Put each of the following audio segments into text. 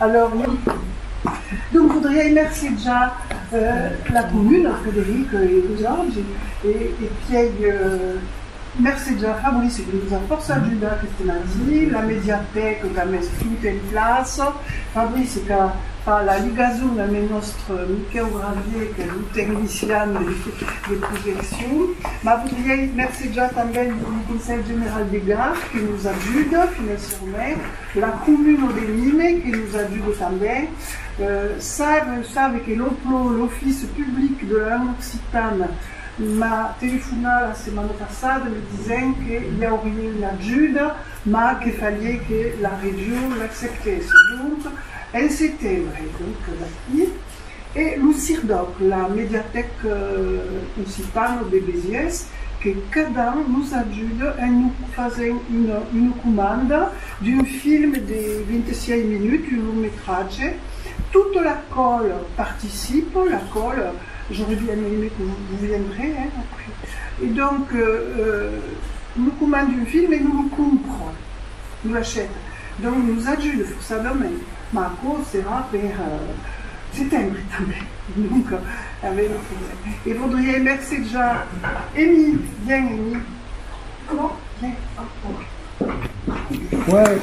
Alors oui, donc voudriei mercetjar la comuna, Frederic e vosaugi, e piei mercetjar Fabrice que nos a fòrça ajudat aqueste mardi, la mediatèca qu'a mes tot en plaça, Fabrice qu'a fa la ligason a mes nòstre Miquèu Gravier qu'es lo tecnician de projeccion, mas voudriei mercetjar tanben lo Conselh General de Gard que nos ajuda financièrament, La comuna de Nîmes, que nos ajude tanben, sap, sabe que lo PLOH, l'Office Public de la Langue Occitane, m'a telefonat la setmana passada me disent que i aurie una ajuda, mas que falie que la region l'acceptèsse, donc en setembre, donc d'aquí. E lo CIRDOC, la Mediatèc Occitana de Besiers, que cada an nos ajuda en nos fasent una comanda d'un film de 26 minuts, un long metratge. Tota la còl participa, la còl, j'aurais bien aimé que vous vous viendrez, hein, après. E donc, nos comanda un film e nos lo compra, nos l'achèta. Dont nos ajude forçadament, mas aquò serà per setembre tanben, donc tanben un problèma. E vodriei mercejar Emi, vien Emi, comment? Vien, ah ok. Chouette.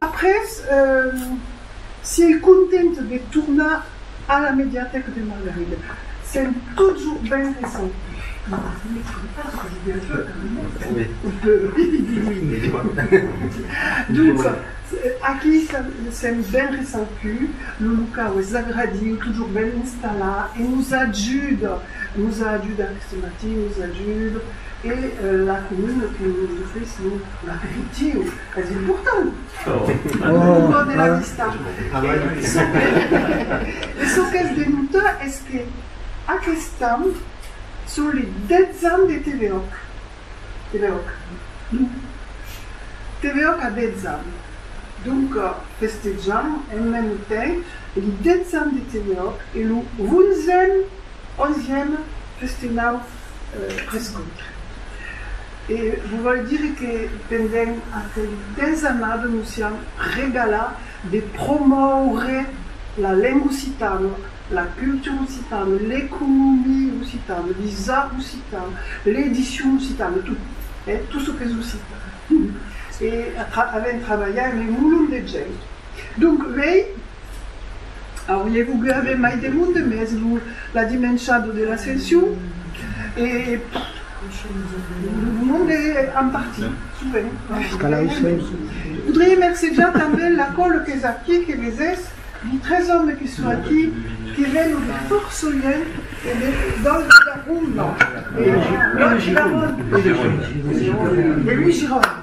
Après, si ei content de tornar a la Mediatèca de Margarida, sent totjorn ben recebut. Lo locau es agradiu, totjorn ben installat e nos ajuda, nos a ajudat aqueste matin, nos ajuda e la comuna que nos ofrís lo l'aperitiu. Es important! Lo mot de la vista. E çò qu'es de nota es que aqueste an son li 10 ans de TVOC. TVOC. TVOC a 10 ans. Donc festejam en mème temps li 10 ans de TVOC e lo 11èm, 11èm, festejam. prescòt. E vos vòl dire que pendent aquel desenat nos siam regalat de promòure la lenga occitana, la cultura occitana, l'economia occitana, les arts occitans, l'edicion occitana, tot, eh, tot çò qu'es occitan. E avèm trabalhat amb un mulhon de gent. Donc, uèi, Aurie vougut aver mai de monde, mès lo la dimenchado de l'ascension e lo monde en parti, sovent. Voudrie mercejar tanben la còl qu'es aquí, que vesés, di tres òmes que son aquí, que veno de fòrço luenh e de Dolch Garonn, non, Dolch Garonn, de Louis Gironne.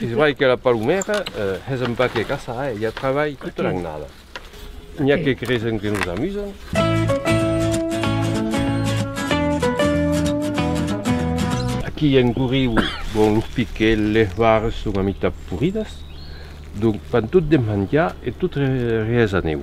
Es vrai que la palomèra es un paquet caçaire, i a travalh tota l'annada. N'i a que creson que nos amusan. Aquí en Gorriu, bon, los piquets, les vares son a mitat poridas, donc fan tot de manjar e tot rees a nèu.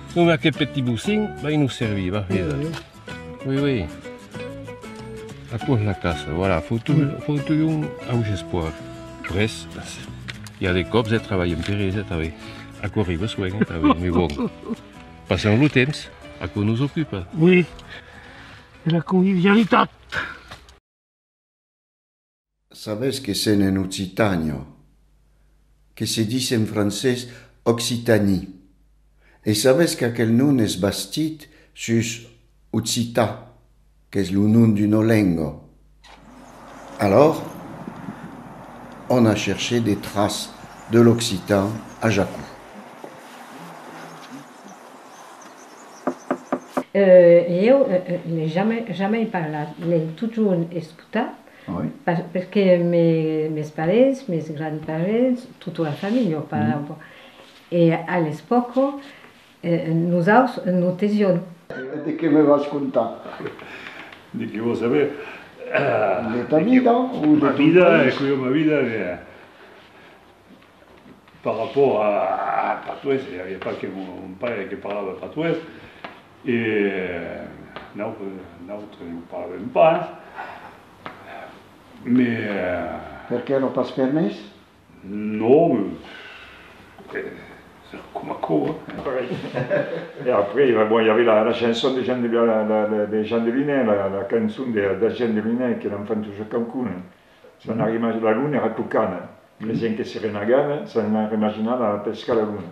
Non me aquel petit bocin vai nos servir, va veda. Oui, oui. Aquò's la casa, voilà, fotu, fotu un au gespoir. Pres, i a de cops eh trabalhem per esa tanben. Aquò arriba soen eh tanben, me bon. Passam lo temps, aquò nos ocupa. Oui, e la convivialitat. Sabes que sèn en Occitània, que se dis en francés Occitanie, e sabes qu'aquel nom es bastit sus Occità, qu'es lo nom d'una lenga. Alòrs, òm a chercher de tras de l'occitan a Jacó. Lhèu, jamais parlat, nen totjorn es Tà, perqué mes parents, mes grands parents, tota la familha, e a l'espòca nosaus non tesión. De qué me vas contar? De qué vòs saber? De ta vida o de ton país? Cuélh, ma vida, par rapport a patois, i aviá pas que mon paire que parlava patois. E nautres non parlem pas, mais. Perqué lo pas permés? Non, se recoma aquò. E après, bon, i avè la chanson de Jean Deviné, la cançon de Jean Deviné que l'enfant toujours cancuna. S'en a rimagin, la luna èra cocana, creisián que se renagava, s'en a rimaginada a pescar la luna.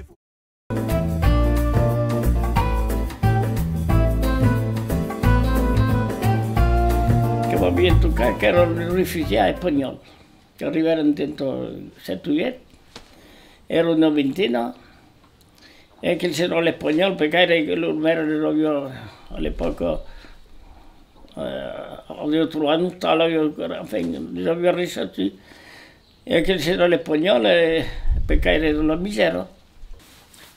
Que m'avián tocat qu'èran los refugiats espanhòls qu'arribèran dins lo 7 oièt, èra una vintena, e aquel senhor l'espanhòl, per gaire que lor maire les aviá a l'epòca aviá trobat un ostal, enfin les aviá reçuts. E aquel se done ponhòl e pe caire de la misèra.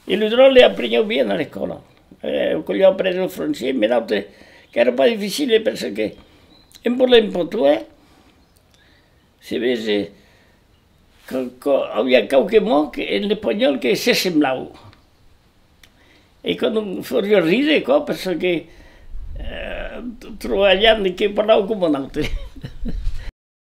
E lo dròlle aprenhèu bien a l'ecòla. Au collèu aprenèt lo francés, me naute qu'èra pas dificile perseque en parlar un pòt uèi, se vese qu'a aviá quauque mot que en espanhòl que se semblaue. E qu'a lo fòrrió rire quò perseque trobalhant que parlava coma naute.